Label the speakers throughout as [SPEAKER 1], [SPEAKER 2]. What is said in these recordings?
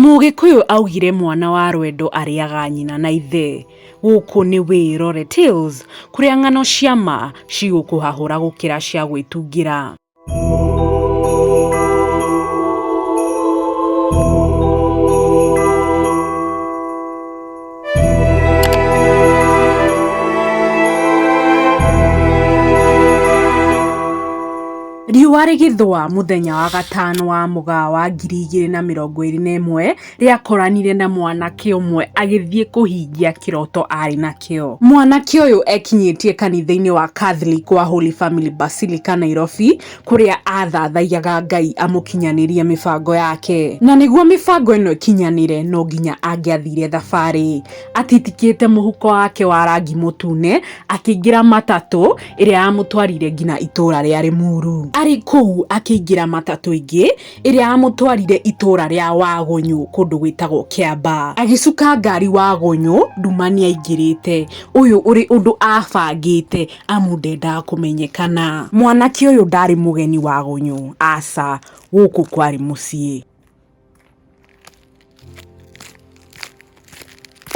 [SPEAKER 1] Mũgĩkũyũ augire mwana wa rwendo arĩaga nyina na ithe. Gũkũ nĩ Wĩrore Tales kũrĩa ng'ano cia ma cigũkũhahũra gũkĩra cia gwĩtungĩra. Riũa rĩgĩthũa mũthenya wa gatano wa mũgaa wa ngiri igĩrĩ na mĩrongo ĩrĩ na ĩmwe rĩakoranire na mwanake ũmwe agĩthiĩ kũhingia kĩroto arĩ nakĩo. Mwanake ũyũ ekinyĩtie kanitha-inĩ wa Catholic wa Holy Family Basilica Nairobi kũrĩa athathaiyaga Ngai amũkinyanĩrie mĩbango yake. Na nĩguo mĩbango ĩno ĩkinyanĩre no nginya angĩathire thabarĩ atitikĩte mũhuko wake wa rangi mũtune akĩingĩra matatũ ĩrĩa yamũtwarire nginya itũra rĩa Rĩmuru. Arĩ kũu akĩingĩra matatũ ĩngĩ ĩrĩa yamũtwarire itũra rĩa Wagũnyũ kũndũ gwĩtagwo Kĩamba. Agĩcuka ngari Wagũnyũ nduma nĩaingĩrĩte. Ũyũ ũrĩ ũndũ abangĩte amu ndendaga kũmenyekana. Mwanake ũyũ ndarĩ mũgeni wa gũnyũ, aca, gũkũ kwarĩ mũciĩ.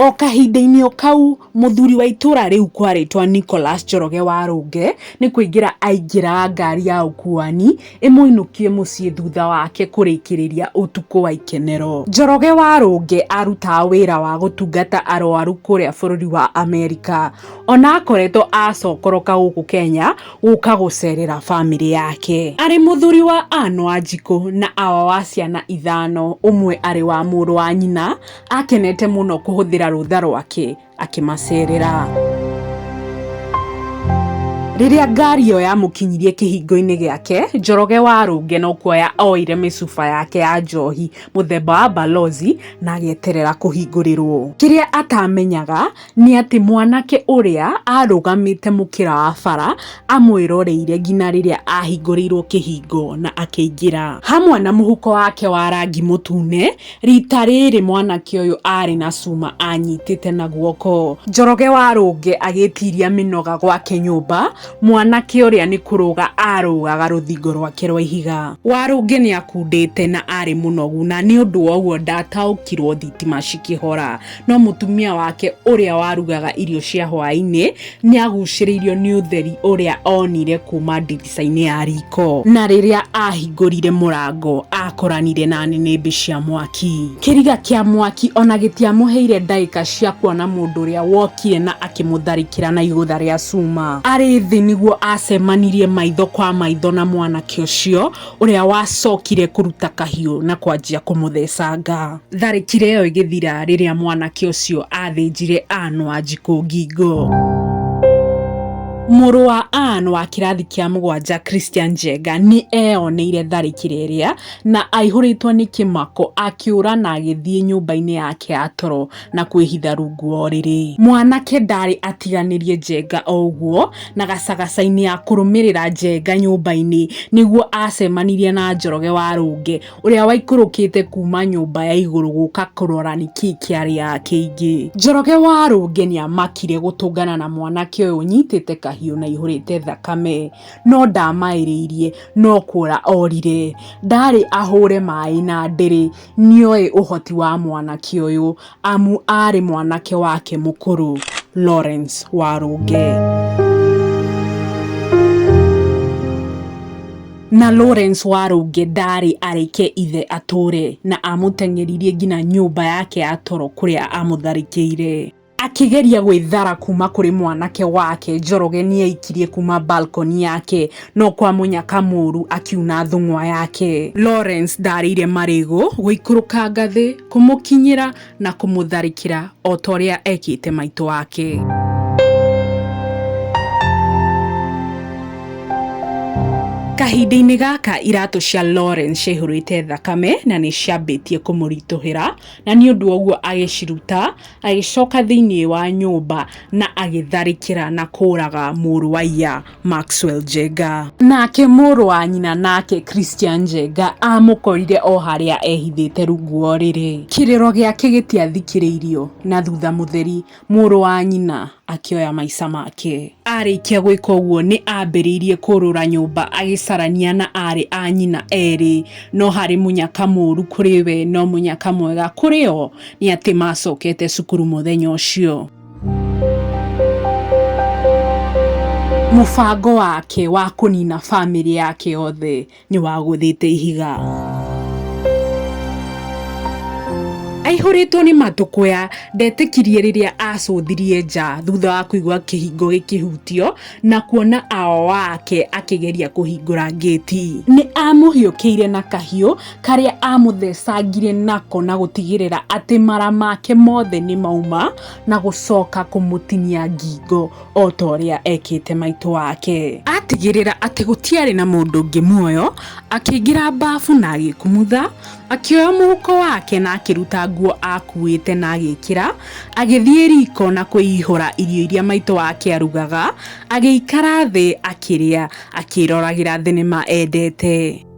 [SPEAKER 1] O kahinda-inĩ o kau, mũthuri wa itũra rĩu kwarĩtwa Nicholas Njoroge wa Rũnge, nĩ kũingĩra aingĩra ngari ya ũkuani, ĩmũinũkie mũciĩ thutha wake kũrĩkĩrĩria ũtukũ wa ikenero. Njoroge wa Rũnge arutaga wĩra wa gũtungata arwaru kũrĩa bũrũri wa Amerika. ona akoretwo acokoroka gũkũ Kenya gũka gũcerera bamĩrĩ yake. Arĩ mũthuri wa Ann Wanjikũ na Awa wa ciana ithano, ũmwe arĩ wa mũrũ wa nyina, akenete mũno kũhũthĩra rũtha rwake akĩmacerera. Rĩrĩa ngari ĩyo yamũkinyirie kĩhingo-inĩ gĩake, Njoroge wa Rũnge no kuoya oire mĩcuba yake ya njohi mũthemba wa Balozi na agĩeterera kũhingũrĩrwo. Kĩrĩa atamenyaga nĩ atĩ mwanake ũrĩa arũgamĩte mũkĩra wa bara amwĩroreire nginya rĩrĩa ahingũrĩirwo kĩhingo na akĩingĩra. Hamwe na mũhuko wake wa rangi mũtune, rita rĩrĩ mwanake ũyũ arĩ na cuma anyitĩte na guoko. Njoroge wa Rũnge agĩtiria mĩnoga gwake nyũmba, mwanake ũrĩa nĩ kũrũga arũgaga rũthingo rwake rwa ihiga. Warũnge nĩ akundĩte na arĩ mũnogu na nĩ ũndũ wa ũguo ndataũkirwo thitima cikĩhora. no mutumia wake uria warugaga irio cia hwaini ni aguciriirio ni utheri uria onire kuma ndirica-ini ya riko na riria ahingurire murango akoranire na ninimbi cia mwaki kiriga kia mwaki ona gitiamuheire ndagika cia kuona mundu uria wokire na akimutharikira na igutha ria cuma ari thi niguo acemanirie maitho kwa maitho na mwanake ucio ũrĩa wacokire kũruta kahiũ na kwanjia kũmũthecanga. Tharĩkĩra ĩyo ĩgĩthira rĩrĩa mwanake ũcio athĩnjire Ann Wanjikũ ngingo. Mũrũ wa Ann wa kĩrathi kĩa mũgwanja Christian Njenga nĩ eyoneire tharĩkĩra ĩrĩa na aihũrĩtwo nĩ kĩmako akĩũra na agĩthiĩ nyũmba-inĩ yake ya toro na kwĩhitha rungu wa ũrĩrĩ. Mwanake ndaarĩ atiganĩrie Njenga o ũguo na gacagaca-inĩ ya kũrũmĩrĩra Njenga nyũmba-inĩ nĩguo aacemanirie na Njoroge wa Rũnge ũrĩa waikũrũkĩte kuuma nyũmba ya igũrũ gũka kũrora nĩ kĩĩ kĩarĩ yake ingĩ. Njoroge wa Rũnge nĩ amakire gũtũngana na mwanake ũyũ ũnyitĩte kahiũ na ihũrĩte thakame no ndaamaĩrĩirie no kũũra orire. Ndaarĩ ahũũre maaĩ na ndĩrĩ Nĩoĩ ũhoti wa mwanake ũyũ amu aarĩ mwanake wake mũkũrũ, Lawrence Warũnge. Na Lawrence Warũnge ndaarĩ areke ithe atũũre na amũteng'eririe nginya nyũmba yake ya toro kũrĩa aamũtharĩkĩire. Akĩgeria gwĩthara kuma kũrĩ mwanake wake, Njoroge nĩaikirie kuma balcony yake no kwa mũnyaka mũru akiuna thũng'wa yake. Lawrence ndarĩire marĩgũ gũikũrũka ngathĩ kũmũkinyĩra na kũmũtharĩkĩra otorĩa ekĩte maitũ wake. Kahinda-inĩ gaka iratũ cia Lawrence ciaihũrĩte thakame na nĩciambĩtie kũmũritũhĩra na nĩũndũ wa ũguo agĩciruta Agĩcoka thĩinĩ wa nyũmba na agĩtharĩkĩra na kũũraga mũrũ wa iya Maxwell Njenga. Nake mũrũ wa nyina nake Christian Njenga aamũkorire o harĩa ehithĩte rungu wa ũrĩrĩ. Kĩrĩro gĩake gĩtiathikĩrĩirio na thutha Mũtheri, mũrũ wa nyina, akĩoya maica make. Aarĩkia gwĩka ũguo nĩ aambĩrĩirie kũũrũra nyũmba agĩcarania na aarĩ a nyina erĩ, no harĩ mũnyaka mũũru kũrĩ we no mũnyaka mwega kũrĩ o. nĩ atĩ maacokete cukuru mũthenya ũcio. Mũbango wake wa kũnina famĩlĩ yake yothe nĩ wagũthĩte ihiga. Aihũrĩtwo nĩ matũkũya, ndetĩkirie rĩrĩa acũthirie nja thutha wa kũigua kĩhingo gĩkĩhutio na kuona awa wake akĩgeria kũhingũra ngĩti. Nĩ aamũhiũkĩire na kahiũ. karĩa amũthecangire nako na gũtigĩrĩra atĩ mara make mothe nĩ mauma na gũcoka kũmũtinia ngingo o ta ũrĩa ekĩte maitũ wake. Atigĩrĩra atĩ gũtiarĩ na mũndũ ũngĩ muoyo, akĩingĩra mbabu na agĩkumutha, akĩoya mũhuko wake na akĩruta nguo akuĩte na agĩkĩra, agĩthiĩ riko na kwĩihũra irio iria maitũ wake arugaga, agĩikara thĩ akĩrĩa, akĩroragĩra thenema endete.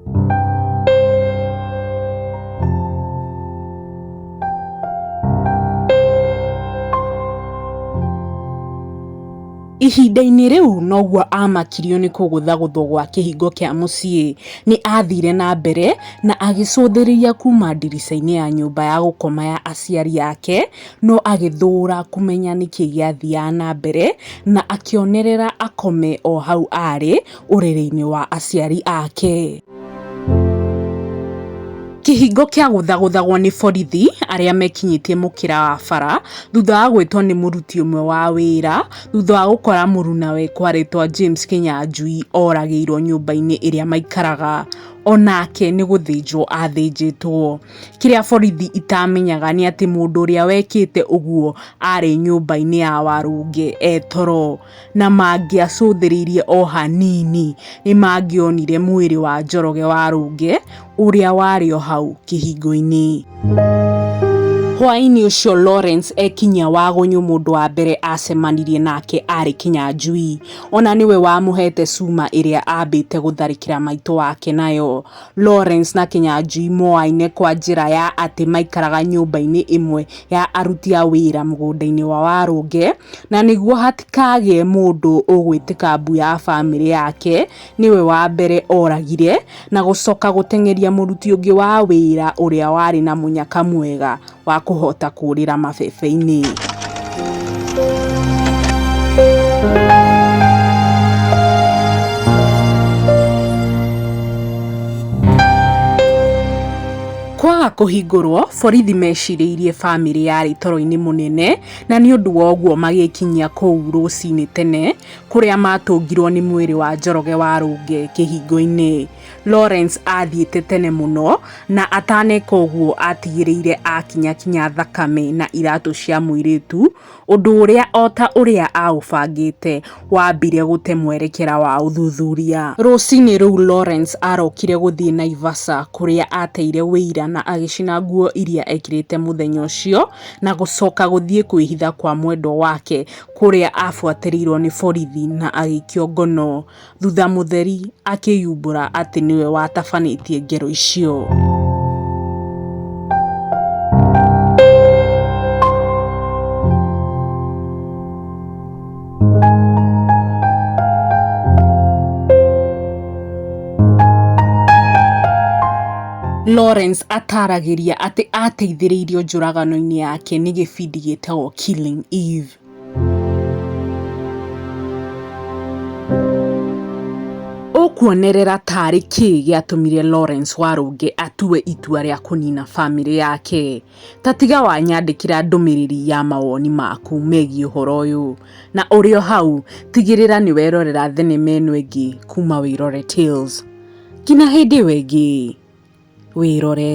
[SPEAKER 1] Ihinda-inĩ rĩu noguo aamakirio nĩ kũgũthagũthwo gwa kĩhingo kĩa mũciĩ. Nĩ aathire na mbere na agĩcũthĩrĩria kuuma ndirica-inĩ ya nyũmba ya gũkoma ya aciari ake, no agĩthũũra kũmenya nĩ kĩĩ gĩathiaga na mbere, na akĩonerera akome o hau aarĩ, ũrĩrĩ-inĩ wa aciari ake. Kĩhingo kĩagũthagũthagwo nĩ borithi arĩa mekinyĩtie mũkĩra wa bara thutha wa gwĩtwo nĩ mũruti ũmwe wa wĩra thutha wa gũkora mũrunawe kwarĩtwa James Kĩnyanjui oragĩirwo nyũmba-inĩ ĩrĩa maikaraga onake nĩ gũthĩnjwo athĩnjĩtwo. Kĩrĩa borithi itamenyaga nĩ atĩ mũndũ ũrĩa wekĩte ũguo arĩ nyũmba-inĩ ya Warũnge e toro. na mangĩacũthĩrĩirie o hanini nĩ mangĩonire mwĩrĩ wa Njoroge wa Rũngĩ ũrĩa warĩ o hau kĩhingo-inĩ. Hwaĩ-inĩ ũcio Lawrence ekinyia Wagũnyũ mũndũ wa mbere aacemanirie nake aarĩ Kĩnyanjui. O na nĩwe wamũheete cuma ĩrĩa aambĩte gũtharĩkĩra maitũ wake nayo. Lawrence na Kĩnyanjui moaine kwa njĩra ya atĩ maikaraga nyũmba-inĩ ĩmwe ya aruti a wĩra mũgũnda-inĩ wa Warũngĩ na nĩguo hatikagĩe mũndũ ũgwĩtĩka mbu ya bamĩrĩ yake nĩwe wa mbere oragire, na gũcoka gũteng'eria mũruti ũngĩ wa wĩra ũrĩa warĩ na mũnyaka mwega wa kũhota kũũrĩra mabebe-inĩ. Kwaga kũhingũrwo, borithi mecirĩirie famĩlĩ yarĩ toro-inĩ mũnene. Na nĩ ũndũ wa ũguo magĩkinyia kũu rũcinĩ tene, kũrĩa maatũngirwo nĩ mwĩrĩ wa Njoroge wa Rũnge kĩhingo-inĩ. Lawrence aathiĩte tene mũno, na ataneka ũguo aatigĩrĩire aakinyakinya thakame na iratũ cia mũirĩtu, ũndũ ũrĩa o ta ũrĩa aaũbangĩte waambire gũte mwerekera wa ũthuthuria. Rũcinĩ rũu Lawrence aarokire gũthiĩ Naivasha kũrĩa aateire ũira na agĩcina nguo iria ekĩrĩte mũthenya ũcio, na gũcoka gũthiĩ kwĩhitha kwa mwendwa wake kũrĩa abuatĩrĩirwo nĩ borithi na agĩikio ngono, thutha Mũtheri akĩyumbũra atĩ nĩwe watabanĩtie ngero icio. Lawrence ataaragĩria atĩ aateithĩrĩirio njũragano-inĩ yake nĩ gĩbindi gĩtagwo Killing Eve. Ũkuonerera ta arĩ kĩĩ gĩatũmire Lawrence Warũnge atue itua rĩa kũniina famĩlĩ yake? ta tiga wanyandĩkĩra ndũmĩrĩri ya mawoni maku megiĩ ũhoro ũyũ. Na ũrĩ o hau, tigĩrĩra nĩ werorera thenema ĩno ĩngĩ kuma Wĩrore Tales. Nginya hĩndĩ ĩyo ĩngĩ, wĩrore.